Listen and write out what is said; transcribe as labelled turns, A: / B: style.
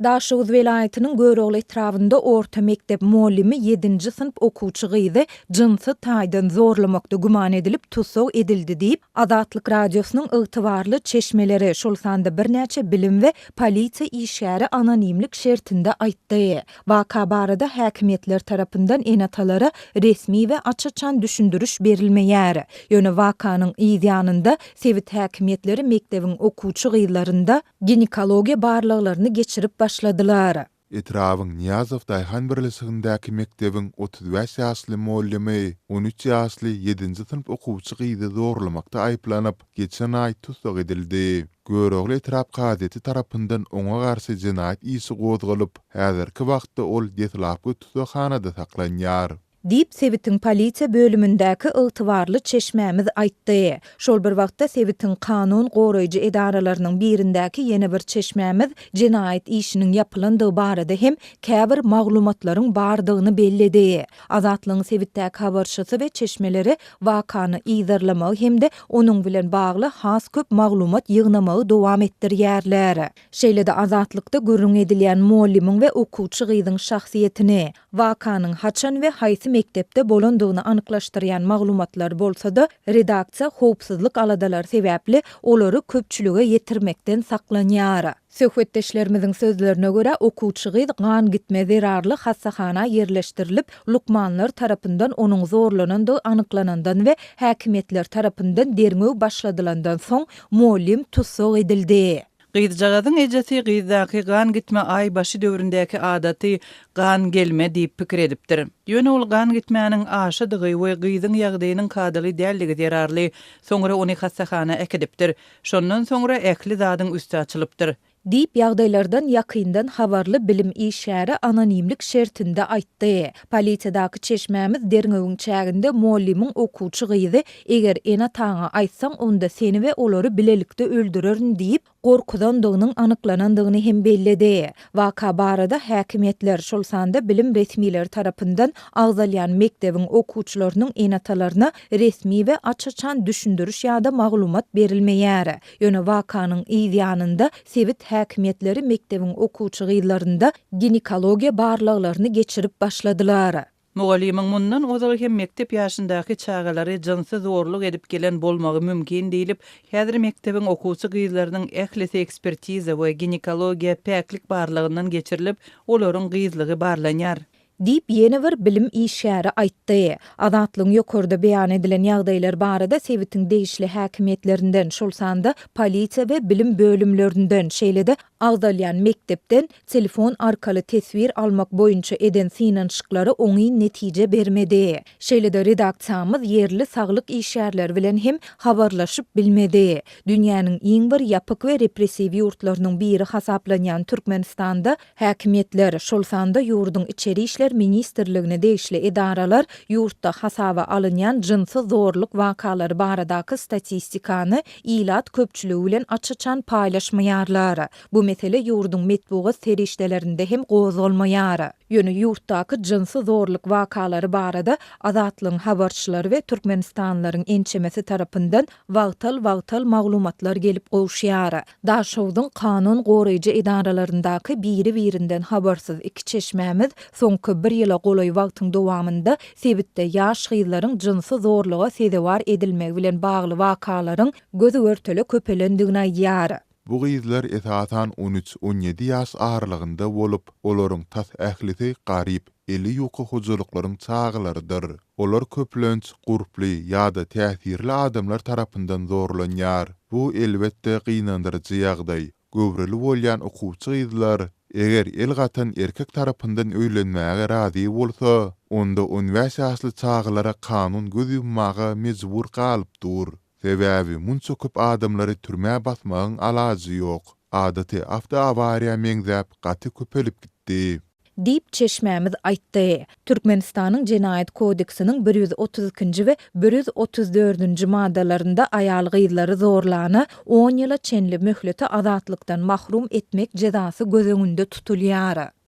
A: Daşoguz welaýatynyň Görogly etrabynda orta mekdep mugallymy ýedinji synp okuwçy gyzy jynsy taýdan zorlamakda güman edilip tussag edildi diýip, Azatlyk Radiosynyň ygtybarly çeşmeleri, şol sanda birnäçe bilim we polisiýa işgäri anonimlik şertinde aýtdy. Waka barada häkimiýetler tarapyndan ene-atalara resmi we aç-açan düşündiriş berilmeýär. Ýöne wakanyň yz ýanynda sebit häkimiýetleri mekdebiň okuwçy gyzlarynda, ginekologiýa barlaglaryny geçirip başladylar. Etrabyň
B: Nyýazow daýhan birleşigindäki mekdebiň otuz bäş ýaşly mugallamy on üç ýaşly ýedinji synp okuwçy gyzy zorlamakda aýyplanyp, geçen aý tussag edildi. Görogly etrap gazeti tarapyndan oňa garşy jenaýat işi gozgalyp, häzirki wagtda ol deslapky tussaghanada saklanýar. Diýip, sebitiň
A: polisiýa bölümindäki ygtybarly çeşmämiz aýtdy. Şol bir wagtda, sebitiň kanun goraýjy edaralarynyň birindäki ýene bir çeşmämiz jenaýat işiniň ýapylandygy barada hem käbir maglumatlaryň bardygyny belledi. Azatlygyň sebitdäki habarçysy we çeşmeleri wakany yzarlamagy hem-de onuň bilen bagly has köp maglumat ýygnamagy dowam etdirýärler. Şeýle-de Azatlykda gürrüň edilýän mugallymyň we okuwçy gyzyň şahsyýetini, Wakanyň haçan we haýsy mekdepde bolandygyny anyklaşdyrýan maglumatlar bolsa-da, redaksiýa howpsuzlyk aladalary sebäpli olary köpçülige ýetirmekden saklanýar. Söhbetdeşlerimiziň sözlerine görä, okuwçy gyz gan gitme zerarly hassahana ýerleşdirilip, lukmanlar tarapyndan onuň zorlanandygy anyklanandan we häkimiýetler tarapyndan derňew başladylandan soň, mugallym tussag edildi. Gyzjagazyň
C: ejesi gyzdaky gan gitme aý başy döwründäki adaty gan gelme diýip pikir edipdir. Ýöne ol gan gitmäniň aşydygy we gyzyň ýagdaýynyň kadaly däldigi zerarly soňra ony hassahana äkidipdir. Şondan soňra ähli zadyň üsti açylypdyr. Diýip, ýagdaýlardan
A: ýakyndan habarly bilim işgäri anonimlik şertinde aýtdy. Polisiýadaky çeşmämiz derňewiň çäginde mugallymyň okuwçy gyzy eger ene-ataňa aýtsaň, onda seni we olary bilelikde öldürerin diýip, gorkuzandygynyň anyklanandygyny hem belledi. Waka barada häkimiýetler, şol sanda bilim resmileri tarapyndan agzalýan mekdebiň okuwçylarynyň ene-atalaryna resmi we aç-açan düşündiriş ýa-da maglumat berilmeýär. Ýöne wakanyň yz ýanynda sebit häkimiýetleri mekdebiň okuwçy gyzlarynda ginekologiýa barlaglaryny geçirip başladylar. Mugallymyň mundan
C: ozal hem mekdep ýaşyndaky çagalary jynsy zorluk edip gelen bolmagy mümkin diýlip, häzir mekdebiň okuwçy gyzlarynyň ählisi ekspertiza we ginekologiýa päklik barlagyndan geçirilip, olaryň gyzlygy barlanýar. Diýip, ýene
A: bir bilim işgäri aýtdy. Azatlygyň ýokarda beýan edilen ýagdaýlar barada sebitiň degişli häkimiýetlerinden, şol sanda polisiýa we bilim bölümlerinden, şeýle-de Agzalýan mekdepden telefon arkaly teswir almak boýunça eden synanyşyklary oňyn netije bermedi. Şeýle-de redaksiýamyz ýerli saglyk işgärleri bilen hem habarlaşyp bilmedi. Dünýäniň iň bir ýapyk we repressiw ýurtlarynyň biri hasaplanýan Türkmenistanda häkimiýetler, şol sanda ýurduň Içeri işler ministrligine degişli edaralar ýurtda hasaba alynýan jynsy zorluk wakalary baradaky statistikany ilat köpçüligi bilen aç-açan paýlaşmaýarlar. Bu mesele ýurduň metbugat serişdelerinde hem gozgalmaýar. Ýöne ýurtdaky jynsy zorluk wakalary barada Azatlygyň habarçylary we türkmenistanlylaryň ençemesi tarapyndan wagtal-wagtal maglumatlar gelip gowuşýar. Daşogzuň kanun goraýjy edaralaryndaky biri-birinden habarsyz iki çeşmämiz soňky bir ýyla golaý wagtyň dowamynda sebitde ýaş gyzlaryň jynsy zorluga sezewar edilmegi bilen bagly wakalaryň göz-görtele köpelendigini aýdýar. Bu gyzlar
B: esasan on üç, on ýedi ýaş aralygynda bolup, olaryň tas ählisi garyp, eli ýuka hojalyklaryň çagalarydyr. Olar köplenç gurply ýa-da täsirli adamlar tarapyndan zorlanýar. Bu, elbetde, gynandyryjy ýagdaý. Göwreli bolýan okuwçy gyzlar, eger el gatan erkek tarapyndan öýlenmäge razy bolsa, onda on bäş ýaşly çagalara kanun göz ýummaga mejbur galyp dur. Sebäbi munça köp adamlary türmä basmagyň alajy ýok. Adaty awtoawariýa meňzäp gaty köpelip gitdi. Diýip, çeşmämiz
A: aýtdy. Türkmenistanyň Jenaýat kodeksiniň bir ýüz otuz ikinji we bir ýüz otuz dördünji maddalarynda aýal-gyzlary zorlana on ýyla çenli möhlete azatlykdan mahrum etmek jezasy göz öňünde tutulýar.